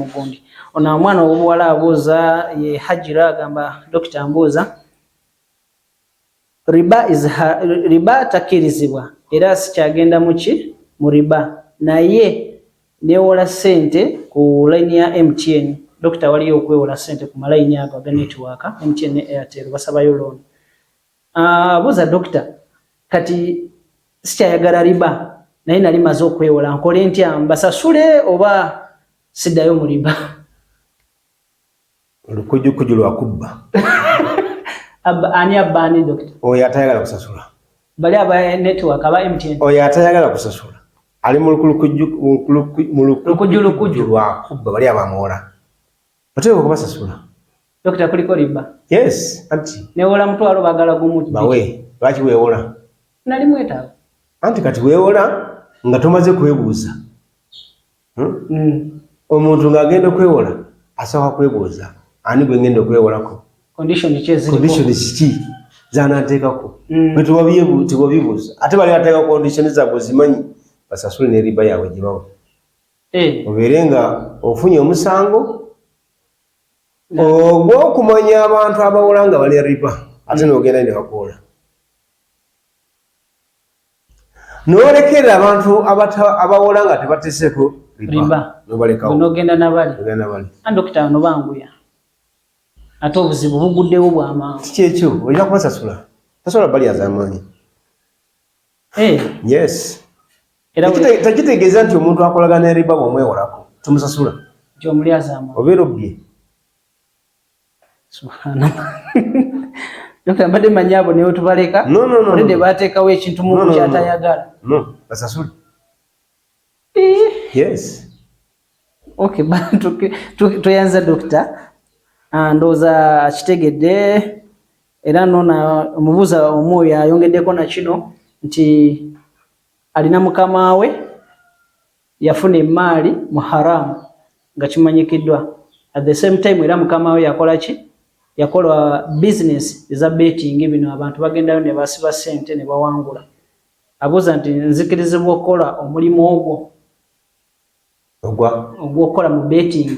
mugundi ono omwana owobuwala abuuza ye hajira agamba dokita mbuuza riba is ha, riba takirizibwa era sikyagenda muki mu riba naye newola sente ku line ya mtn dokita waliyo okwewola sente ku malayini ago aga network mtn ne airtel basabayo loan Ah, buza doctor kati sikyayagala riba naye nali maze okwewola nkole ntya mbasasule oba sidayo muliba olukujukuju lwakubba ani abba ani doctor oyo atayagala kusasula bali aba network aba mtn oyo atayagala kusasula ali mu lukujukuju lwakubba bali abamuwola oteeka okubasasula Dokita kuliko riba. Yes, anti. Newola mutwalo bagala gumu. Bawe, lwaki wewola? Nali mwetaaga. Anti kati wewola nga tomaze kwebuuza. Hmm? Mm. Omuntu nga agenda okwewola asaba kwebuuza ani gwe ngenda okwewolako. Condition ki eziriko? Condition ki zanateekako? Mm. Bwe tewabyebu tewabibuuza. Ate bali ateeka condition zaabwe zimanyi basasule ne riba yaabwe gye bawa. Eh. Obeere nga ofunye omusango ogwokumanya abantu abawola nga bali riba ate nogenda ne bakoola nolekera abantu abawola nga tebateseko riba nobalekaonogenda nabali andokita bano banguya ate obuzibu buguddewo bwamangu kikyekyo olina kubasasula tasobola bali azamaanyi eh. yes era tekitegeeza nti omuntu akolagana eriba bwomwewolako tomusasula obeera obbye mbadde manyi abo newe tubaleka olede bateekawo ekintu muntu kyatayagala basasule eh. toyanza dokita ah, ndowooza akitegedde era nona omubuuza omu oyo ayongeddeko nakino nti Alina mukama we yafuna emaali mu haram nga kimanyikidwa at the same time era mukama we yakola ki yakola business eza betting bino abantu bagendayo ne basiba sente ne bawangula abuza nti nzikirizibwa okola omulimu ogwo ogwa ogwokola mu betting